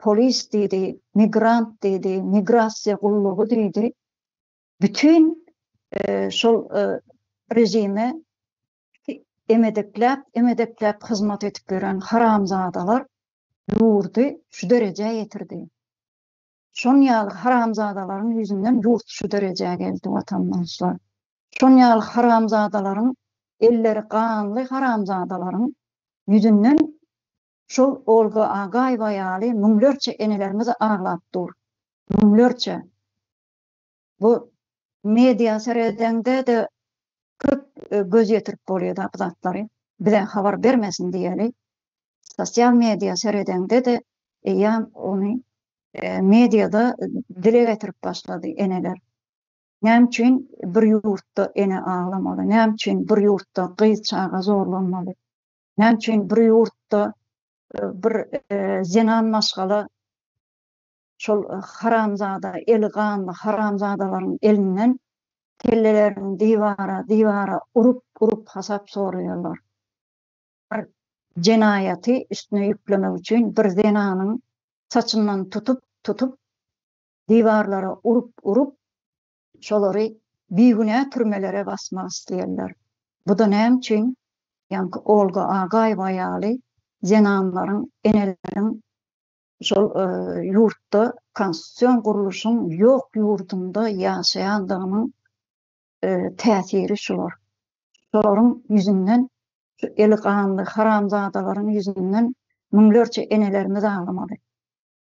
polis diýdi, migrant diýdi, migrasiýa gullugy diýdi. Bütin şol režime emedekläp, emedekläp hyzmat edip ýören haramzadalar ýurdy şu derejä ýetirdi. Şon ýaly haramzadalaryň ýüzünden ýurt şu derejä geldi watandaşlar. Şon ýaly haramzadalaryň elleri ganly haramzadalaryň ýüzünden şol Olga Agaýewa ýaly müňlerçe enelerimiz aglap dur. Müňlerçe. Bu media seredeňde-de köp göz ýetirip bolýar-da bu zatlary. Bize habar bermesin diýeli. Sosial media seredeňde-de eýýäm ony mediada dile getirip başlady eneler. Näme üçin bir ýurtda ene aglamaly? Näme üçin bir ýurtda gyz çaga zorlanmaly? Näme üçin bir ýurtda bir zenan maşgala şol haramzada eli ganly haramzadalaryň elinden kellelerini diwara diwara urup urup hasap soraýarlar. Bir jenaýaty üstüne ýüklemek üçin bir zenanyň saçyndan tutup tutup diwarlara urup urup şolary bigünä türmelere basmak isleýärler. Buda näme üçin ýaňky Olga Agaýewa ýaly zenanlaryň eneleriň şol ýurtda konstitusion gurluşyň ýok ýurdunda ýaşaýandygynyň täsiri şular. Şolaryň ýüzünden, şu eli ganly haramzadalaryň ýüzünden müňlerçe enelerimiz aglamaly.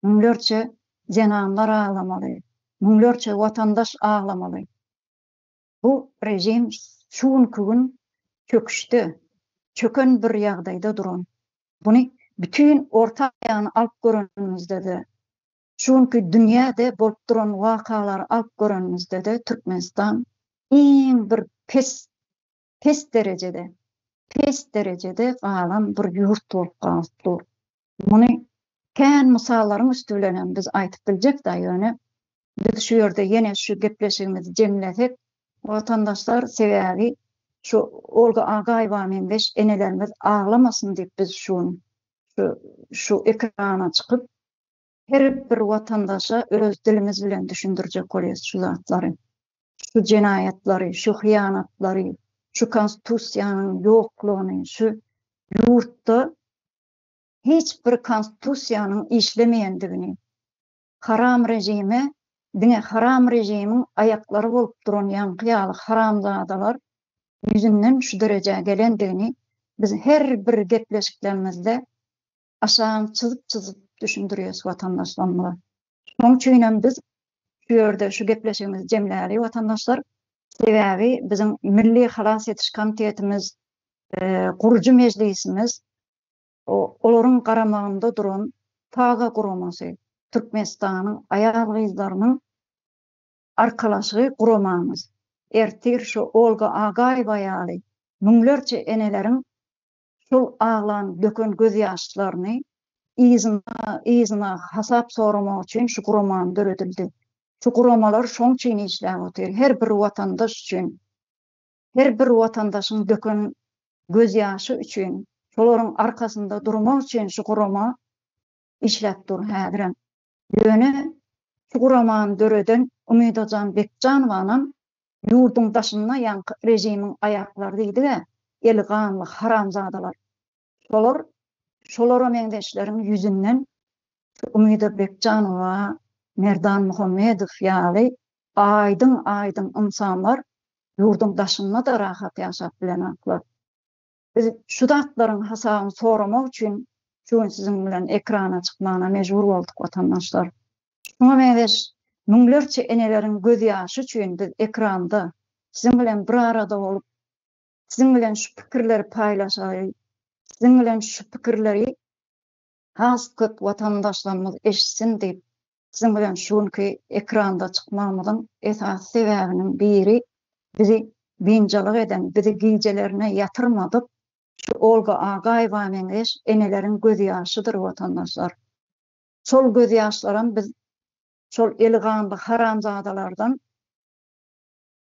Müňlerçe zenanlar aglamaly. Müňlerçe watandaş aglamaly. Bu režim şu günki gün çöküşde, çöken bir ýagdaýda duran. Buny bütin orta aýagyny alyp görenimizde-de, şu günki dünýäde bolup duran wakalary alyp görenimizde-de Türkmenistan iň bir pes, pes derejede, pes derejede galan bir ýurt bolup galyp dur. Muny kän mysallaryň üsti bilen hem biz aýdyp biljek da ýöne biz şu ýerde ýene şu gepleşigimizi jemlesek watandaşlar sebäbi şu Olga Agaýewa meňzeş enelerimiz aglamasyn diýip biz şu gün şu şu ekrana çykyp her bir watandaşa öz dilimiz bilen düşündirjek bolýas şu zatlary şu jenaýatlary şu hyýanatlary şu konstitusiýanyň ýoklugyny şu ýurtda hiç bir konstitusiýanyň işlemeýändigini, haram režime diňe haram režimiň aýaklary bolup duran ýaňky ýaly haramzadalar ýüzünden şu derejä gelendigini biz her bir gepleşiklerimizde aşagam çyzyp-çyzyp düşündirýäs watandaşlarymyza. Şoň üçin hem biz şu ýerde şu gepleşigimizi jemläli watandaşlar. Sebäbi biziň Milli halas ediş komitetimiz, gurujy mejlisimiz olaryň garamagynda duran Taga guramasy, Türkmenistanyň aýal-gyzlarynyň arkalaşygy guramamyz ertir şu Olga Agaýewa ýaly müňlerçe eneleriň şol aglan, döken göz ýaşlaryny yzyna, yzyna hasap soramak üçin şu guramany döredildi. Şu guramalar şoň üçin işläp otyr, her bir watandaş üçin, her bir watandaşyň döken göz ýaşy üçin, şolaryň arkasynda durmak üçin şu gurama işläp dur häzirem. Ýöne şu guramany döreden Umydajan Bekjanowanam ýurduň daşynda ýaňky režimiň aýaklary diýdi-ä, eli ganly haramzadalar. Şolar, şolara meňzeşleriň ýüzünden şu Umyda Bekjanowa, Merdan Muhammedow ýaly aýdyň-aýdyň ynsanlar ýurduň daşynda-da rahat ýaşap bilenoklar. Biz şu zatlaryň hasabyny soramak üçin şu gün siziň bilen ekrana çykmagyna mejbur bolduk watandaşlar. Şuňa meňzeş müňlerçe eneleriň göz ýaşy üçin biz ekranda siziň bilen bir arada bolup siziň bilen şu pikirleri paýlaşaly, siziň bilen şu pikirleri has köp watandaşlarymyz eşitsin diýip, siziň bilen şu günki ekranda çykmagymyzyň esasy sebäbiniň biri bizi biynjalyk eden, bizi gijelerine ýatyrmadyk şu Olga Agaýewa meňzeş eneleriň gözýaşydyr, watandaşlar. Şol gözýaşlaram biz şol eli ganly haramzadalardan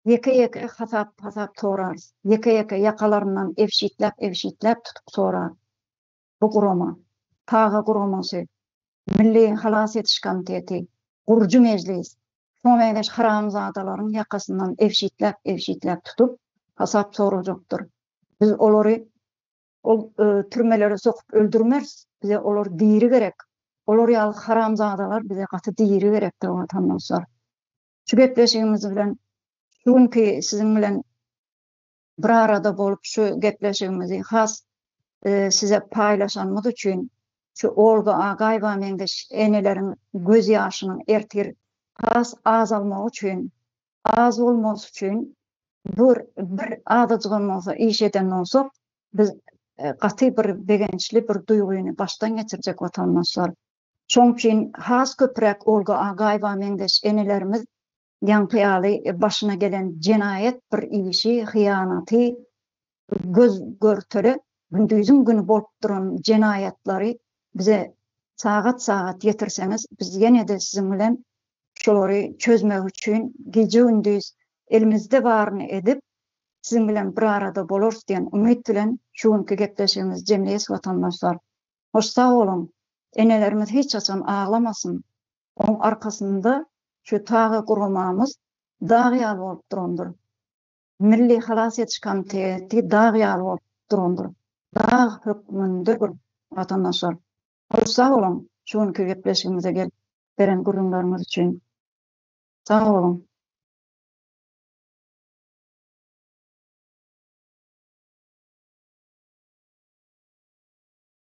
ýeke-ýeke hasap-hasap sorarys, ýeke-ýeke ýakalaryndan ebşitläp-ebşitläp tutup sorarys. bu gurama, Taga guramasy, Milli halas ediş komiteti, Gurujy mejlis, şoňa meňzeş haramzadalaryň ýakasyndan ebşitläp-ebşitläp tutup, hasap sorajakdyr. Biz olary ol türmelere sokup öldürmeris, bize olar diri gerek. Olar ýaly haramzadalar bize gaty diri gerekdir, watandoslar. Şu gepleşigimiz bilen şu günki siziň bilen bir arada bolup şu gepleşigimizi has size paýlaşanymyz üçin şu Olga Agaýewa meňzeş eneleriň göz ýaşynyň ertir has azalmagy üçin, az bolmasy üçin bir bir azajygam bolsa iş eden bolsak, biz gaty bir begençli bir duýgyny başdan geçirjek watandaşlar. Şoň üçin has köpräk Olga Agaýewa meňzeş enelerimiz ýaňky ýaly başyna gelen jenaýat bir işi, hyýanaty, göz görtele gündiziň güni bolup duran jenaýatlary bize sagat-sagat ýetirseňiz, biz ýene-de siziň bilen şolary çözmek üçin gije-gündiz elimizde baryny edip, siziň bilen bir arada bolarys diýen umyt bilen şu günki gepleşigimizi jemleýäs watandaşlar. Hoş sag boluň! Enelerimiz hiç haçan aglamasyn! Oň arkasynda şu taýy guramamyz dag ýaly bolup durandyr. Milli halas ediş komiteti dag ýaly bolup durandyr. Dag hökmünde bir watandaşlar. Köp sag boluň şu günki gepleşigimize gelip beren gürrüňleriňiz üçin. Sag boluň.